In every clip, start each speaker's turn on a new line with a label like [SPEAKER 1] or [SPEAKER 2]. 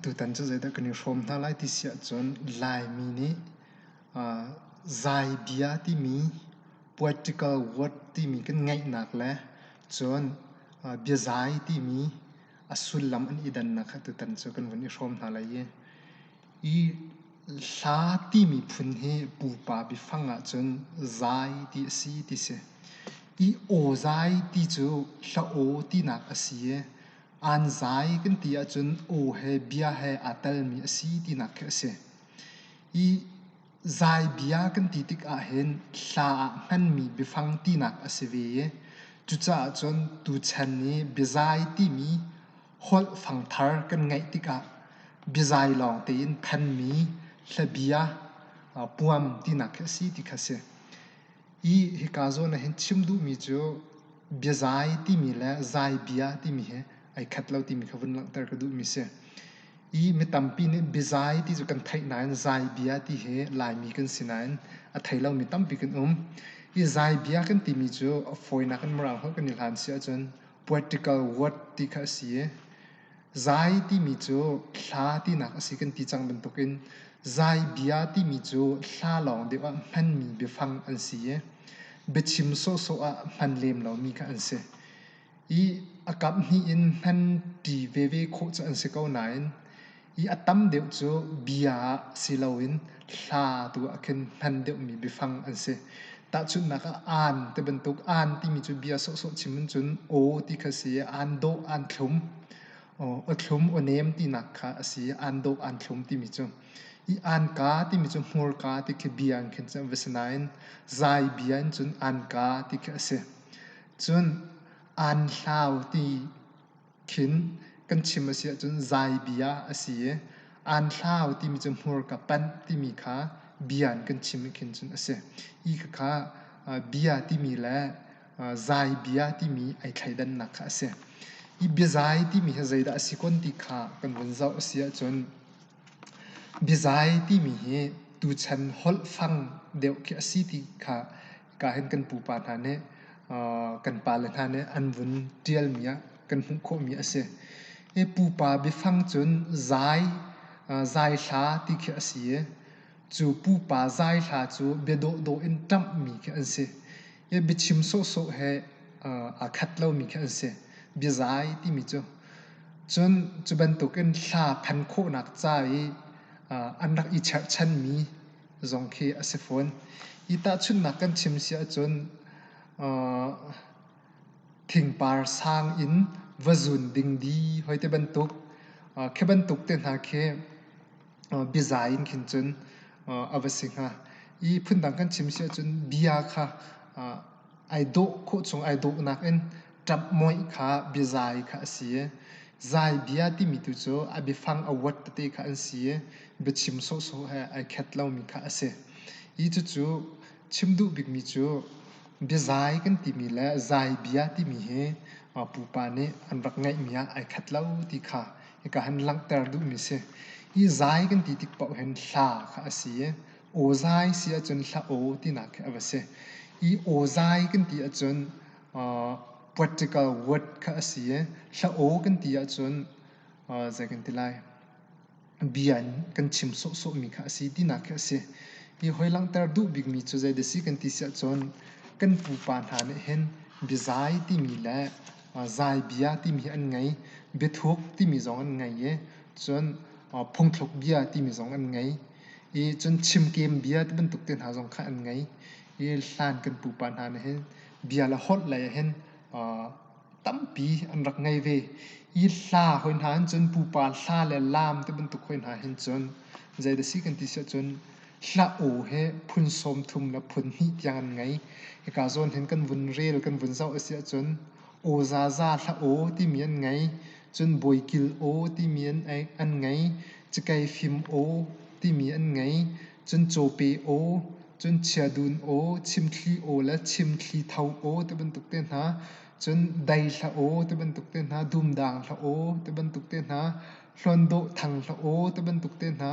[SPEAKER 1] Tutan cu zeidah kan i hrawm hna lai ti si ahcun Laimi nih zai bia timi poetical word timi kan ngeihnak le cun biazai timi a sullam an i dannak kha tutan cu kan vun i hrawm hna lai i Hla timi phun hi pupa biafang ahcun zai ti a si ti si. Aw zai ti cu hla-aw tinak a si i aan zai kan ti ahcun aw he bia he aa telmi a si tinak khi a si. Hi zai bia kan ti tikah hin hla ah hmanmi biafang tinak a si ve i cucaah cun tuchan i biazai timi holh fangthar kan ngeih tikah biazai lawng tein thanmi hlabia puam tinak khi a si ti kha a si. I hika zawn ah hin chim duhmi cu biazai timi le zai bia timi hi ai khat lo timi kha vun langhter ka duhmi si. I mi tampi nih biazai ti cu kan theih nain zai bia ti hi Laimi kan si nain a thei lomi tampi kan um. I zai bia kan timi cu a fawinak in Mirang holh kan i hlan si ahcun poetical word ti kha a si i zai timi cu hla tinak a si kan ti cang bantukin zai bia timi cu hla lawng deuh ah hmanmi biafang an si i biachim sawhsawh ah hman lem lomi kha an si i a kamh hnih in hman ṭi veve khawh cu an si ko nain I a tam deuh cu bia ah si loin hla tu ah khin hman deuhmi biafang an si. Tahchunhnak ah aan ti bantuk aan timi cu bia sawhsawh chim in cun aw ti kha a si i aan dawh aan thlum, aw thlum aw nem tinak kha a si i aan dawh aan thlum timi cu. I aan ka timi cu hmurka ti khi bia in khin cun a si nain zai bia in cun aan ka ti khi a si. Cun aan hlau ti khin kan chim a si ahcun zaibi ah a si i aan hlau timi cu hmurka panh timi kha bia in kan chim khin cun a si i khakha bia timi le zaibia timi ai thleidannak kha a si i biazai timi hi zeidah a si kun ti kha kan vun zoh a si ahcun biazai timi hi tuchan holh fang deuh khi a si ti kha ka hin kan pupa hna nih kan pale hna nih an vun ṭialmi ah kan hmuh khawhmi a si. Hi pupa biafang cun zai, zaithla ti khi a si i cu pupa zaithla cu biadawhdawh in ṭamhmi khi an si. Hi biachim sawhsawh he aa khat lomi khi an si. Biazai timi cu cun cu bantukin hla phan khawhnak ca i an rak i cherhchanmi zong khi a si fawn. Hi tahchunhnak kan chim si ahcun thingpar sang in va zun ding di hoi te bantuk khi bantuk te hna khi biaza in khin cun a va si hnga. Hi phundang kan chim si ahcun bia kha Ai dawh khawh chung ai dawhnak in ṭapmoih kha biazai kha a si. Zaibia timi tu cu a biafang a word tete kha an si i biachim sawhsawh he ai khat lomi kha a si. Hi cucu chim duh bikmi cu biazai kan timi le zaibia timi hi pupa nih an rak ngeihmi ah ai khat lo ti kha hika han langhter duhmi a si. Hi zai kan ti tik paoh hin hla kha a si i awzai si ahcun hlah aw tinak khi a va si. Hi awzai kan ti ahcun uh, political word kha a si i hlah aw kan ti ahcun uh, zei kan ti lai bia in kan chim sawhsawhmi kha a si tinak khi a si. Hi hoi langhter duh bikmi cu zei dasi kan ti si ahcun kan pupa hna nih hin biazai timi le uh, zai bia timi hi an ngei, biathuk timi zong an ngei i cun uh, phungthluk bia timi zong an ngei. I cun chimkem bia ti bantuk te hna zong kha an ngei. I hlan kan pupa hna nih hin bia le holh lei ah hin tampi an rak ngei ve. I hla hoi hna hin cun pupa hla le laam ti bantuk hoi hna hin cun zei dah si kan ti si ahcun hla aw hi phun sawm thum le phun hnih tiang an ngei. Hika zawn hin kan vun rel kan vun zoh a si ahcun Aw zaza hlah aw timi an ngei. Cun bawi kil aw timi an ngei. Cikei fim aw timi an ngei. Cun cawpe aw, cun chiadun aw, chimthli aw le chimthli tho aw ti bantuk te hna. Cun dei hlah aw ti bantuk te hna. Dum dang hlah aw ti bantuk te hna. Hlawndawh thang hlah aw ti bantuk te hna.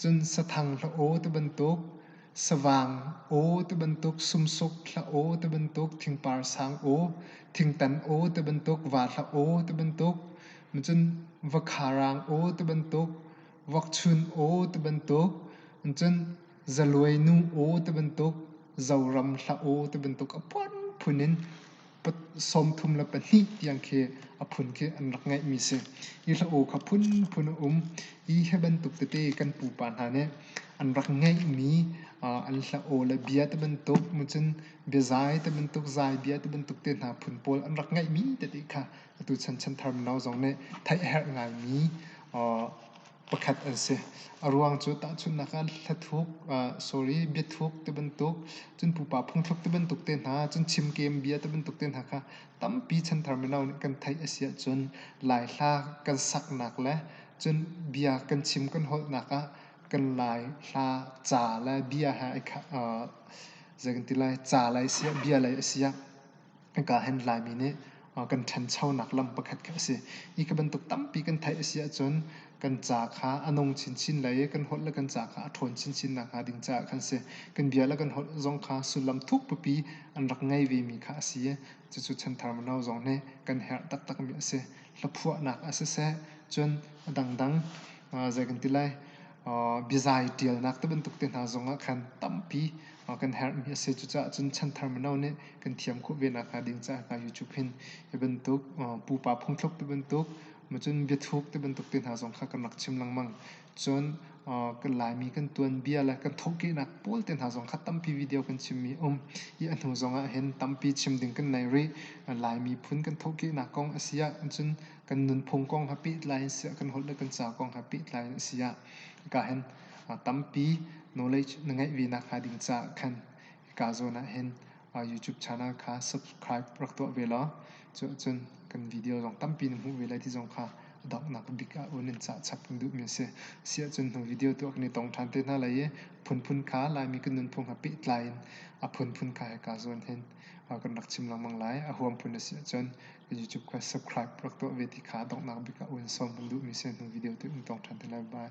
[SPEAKER 1] Cun sathang hlah aw tibantuk, savang aw tibantuk, sumsuk hlah aw tibantuk, thingpar sang aw, thingtan aw tibantuk, va hlah aw tibantuk, cun vakharang aw tibantuk, vakchun aw tibantuk, cun zaluainu aw tibantuk, zoram hlah aw tibantuk a phunphun in sawmthum le pahnih tiang khi a phun khi an rak ngeihmi si. Hi hla-u kha phunphun a um i hi bantuk tete kan pupa hna nih an rak ngeihmi an hla-u le bia te bantuk macun biazai te bantuk zai bia te bantuk te hna phun pawl an rak ngeihmi tete kha atu chan chanthar mino zong nih theih a herh ngaimi pakhat an si. A ruang cu tahchunhnak ah hlathluk, uh, sorry, biathuk te bantuk, cun pupa phungthluk te bantuk te hna, cun chimkem bia te bantuk te hna kha tampi chanthar mino nih kan theih a si ahcun laihla kan saknak le cun bia kan chim kan holhnak ah kan laihla ca le bia he ai kha, uh, zei kan ti lai, ca lei a si ah, bia lei a si ah ka hen Laimi nih kan ṭhanchonak lam pakhat kha a si. Hi ka bantuk tampi kan theih a si ahcun kan ca kha a nung chinchin le i kan holh le kan ca kha a ṭhawn chinchin nakhnga ding caah khan a si. Kan bia le kan holh zong kha sullam thukpipi an rak ngei vemi kha a si i cucu chanthar mino zong nih kan herh taktakmi a si. Hlaphuahnak ah siseh cun a dangdang zei kan ti lai biazai ṭialnak ti bantuk te hna zong ah khan tampi kan herhmi a si. Cucaah cun chanthar mino nih kan thiam khawh ve nakhnga ding caah hna YouTube hin hi bantuk pupa phungthluk ti bantuk macun biathuuk ti bantuk te hna zong kha kan rak chim lengmang. Cun kan Laimi kan tuanbia le kan thawhkehnak pawl te hna zong kha tampi video kan chimmi a um i a hnu zong ah hin tampi chim ding kan nei rih. Lai miphun kan thawhkehnak kong a si ah cun kan nunphung kong he pehtlai in siah kan holh le kan ca kong he pehtlai in a si ah hika hin tampi knowledge na ngeih ve nak hnga ding caah khan hika zawn ah hin YouTube channel kha subscribe rak tuah ve law cuah cun kan video zong tampi na hmuh ve lai ti zong kha donghnak bik ah un in cah chap kan duhmi a si siah cun hnu video tuah kan i tong ṭhan te hna lai i phunphun kha Laimi kan nunphung ha pehtlai in a phunphun kha hika zawn hin kan rak chim lengmang lai a huam phun a si ahcun YouTube kha subscribe rak tuah ve ti kha donghnak bik ah uan sawm kan duhmi si hnu video te in tong ṭhan te lai. Bye.